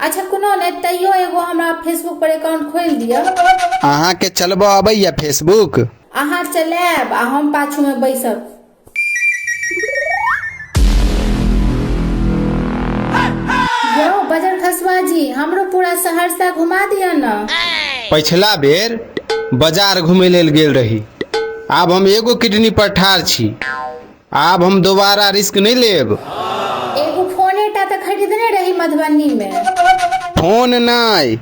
अच्छा कोनो नहि तैयो एगो हमरा फेसबुक पर अकाउंट खोलि दिअ अहाँके चलबऽ अबैया फेसबुक अहाँ चलायब आ हम पाछू में बैसब यौ बजर खसवा जी हमरो पूरा सहरसा घुमा दिअ न पछिला बेर बाजार घुमै लेल गेल रही आब हम एगो किडनी पर ठार छी आब हम दोबारा रिस्क नहि लेब एगो फोने टा तऽ खरीदने रही मधुबनी मे फोन नहि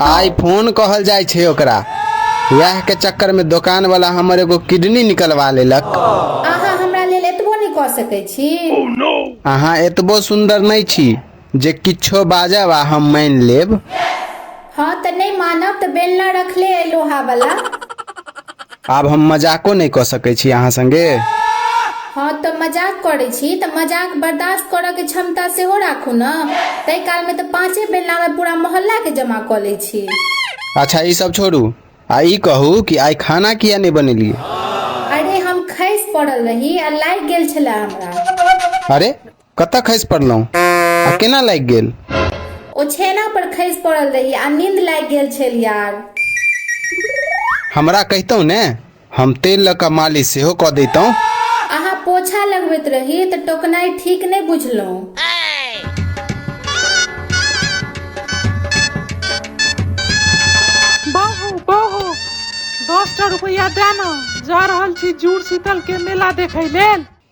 आइ फोन कहल जाइ छै ओकरा वएह के चक्कर में दोकान वाला हमर एगो किडनी निकलवा लेलक अहाँ हमरा लेल एतबो नहि कऽ सकैत छी अहाँ एतबो सुन्दर नहि छी जे किछो बाजब आ हम मानि लेब हँ तऽ नहि मानब तऽ बेलना रखले अइ लोहा वाला आब हम मजाको नहि कऽ सकैत छी अहाँ संगे हँ तऽ मजाक करै छी तऽ मजाक बर्दाश्त करऽ के क्षमता सेहो राखू ने ताहि काल मे तऽ पाँचे बेलना मे पूरा मोहल्ला के जमा कऽ लै छी अच्छा ई सब छोड़ू आ ई कहू कि आइ खाना किया नहि बनेलियै अरे हम खसि पड़ल रही आ लागि गेल छले हमरा अरे कतऽ खसि पड़लहुँ आ केना लागि गेल ओ छेना पर खसि पड़ल रही आ नींद लागि गेल छल यार हमरा कहितहुँ ने हम तेल लऽ कऽ मालिश सेहो कऽ दैतहुँ अहाँ पोछा लगबैत रही तऽ टोकनाइ ठीक नहि बुझलहुँ बाबू बाबू दस टा रुपैआ दए ने जा रहल छी जूड़ शीतल के मेला देखै लेल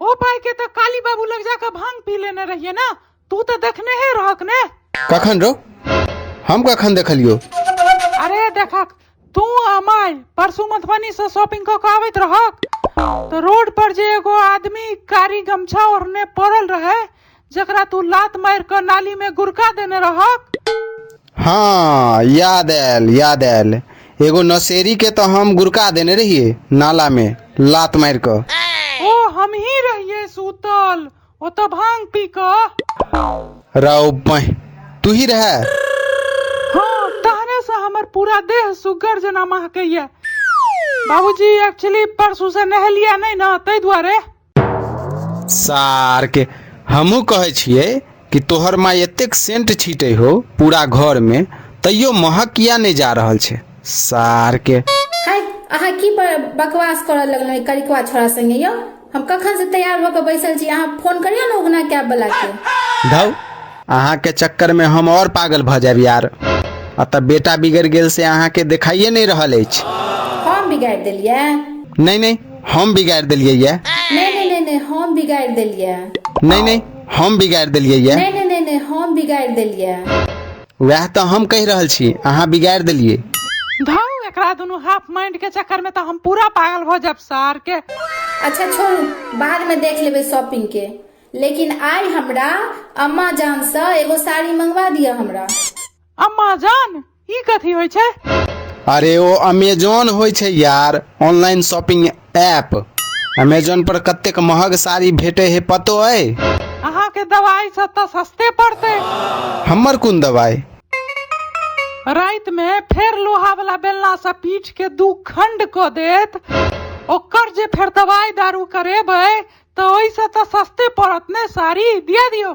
ओ भाई के तो काली बाबू लग जाकर भांग पी लेने रहिए ना तू तो देखने है रहक ने कखन रो हम कखन देखलियो अरे देखक तू अमाय परसू मधुबनी से शॉपिंग क के आवत रहक तो रोड पर जे एगो आदमी कारी गमछा ओढ़ने पड़ल रहे जकरा तू लात मारि कऽ नाली में गुड़का देने रहक हाँ याद आयल याद आयल एगो नशेरी के तो हम गुड़का देने रहिए नाला में लात मार कर ओ हम ही रहिए सूतल ओ तो भांग पी कऽ राव पह तू ही रह हाँ तहने से हमर पूरा देह सुगर जना महकैया बाबूजी एक्चुअली परसू से नहलिया नहीं ना ताहि दुआरे सारके हमहूँ कहै छियै कि तोहर माय एतेक सेंट छीटै हो पूरा घरमे तैयो महक किया नहि जा रहल छै सारके हाय अहाँ की ब- बकवास करऽ लगलहुँ ई करिकवा छोड़ा संगे यौ हम कखन से तैयार भऽ कऽ बैसल छी अहाँ फोन करियौ ने उगना कैब वाला के धौ अहाँके चक्करमे हम और पागल भऽ जायब यार अतः बेटा बिगड़ गेल से अहाँके देखाइए नहि रहल अछि हम बिगाड़ि देलियै नहि नहि हम बिगाड़ि देलियै ये नहीं नहीं नहीं नहीं हम बिगाड़ देलिए नहि नहि हम बिगाड़ि देलियै ये नहीं नहीं नहीं नहीं हम बिगाड़ देलिए वएह तऽ हम कहि रहल छी अहाँ बिगाड़ि देलियै धौ एकरा दुनू हाफ माइंड के चक्कर में तो हम पूरा पागल हो जाब सार के अच्छा छोड़ू बाद में देख लेबे शॉपिंग के लेकिन आई हमरा अम्मा जान से एगो साड़ी मंगवा दिया हमरा अम्मा जान ई कथी होइ छै अरे ओ अमेजोन होइ छै यार ऑनलाइन शॉपिंग ऐप अमेजोन पर कतेक महग साड़ी भेटे हे पतो अइ अहाँ के दवाई से तो सस्ते पड़ते हमर कोन दवाई रात में फेर लोहा वाला बेलना से पीठ के दू खंड क देत ओकर जे फेर दवाई दारू करेबै तो ओइसे तो सस्ते पड़त ने साड़ी दिया दियो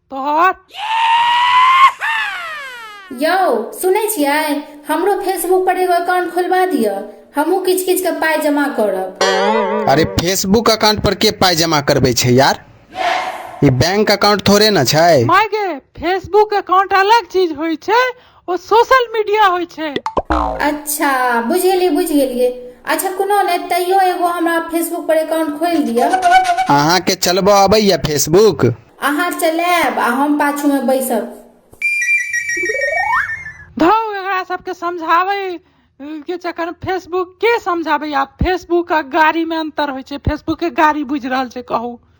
तोहर यौ सुनै छियै हमरो फेसबुक पर एगो अकाउंट खोलबा दिअ हमहूँ किछु किछु के पाइ जमा करब अरे फेसबुक अकाउंट पर के पाइ जमा करबै छै यार ई बैंक अकाउंट थोड़े ने छै माय गे फेसबुक अकाउंट अलग चीज होइ छै ओ सोशल मीडिया होइ छै अच्छा बुझि गेलियै बुझि गेलियै अच्छा कोनो नहि तैयो एगो हमरा फेसबुक पर अकाउंट खोलि दिअ अहाँके चलबऽ अबैया फेसबुक अहाँ चलायब आ हम पाछू में बैसब धौ एकरा सबके समझाबै के चक्कर में फेसबुक के समझाबै आब फेसबुक आ गाड़ी में अंतर होइ छै फेसबुक के गाड़ी बुझि रहल छै कहू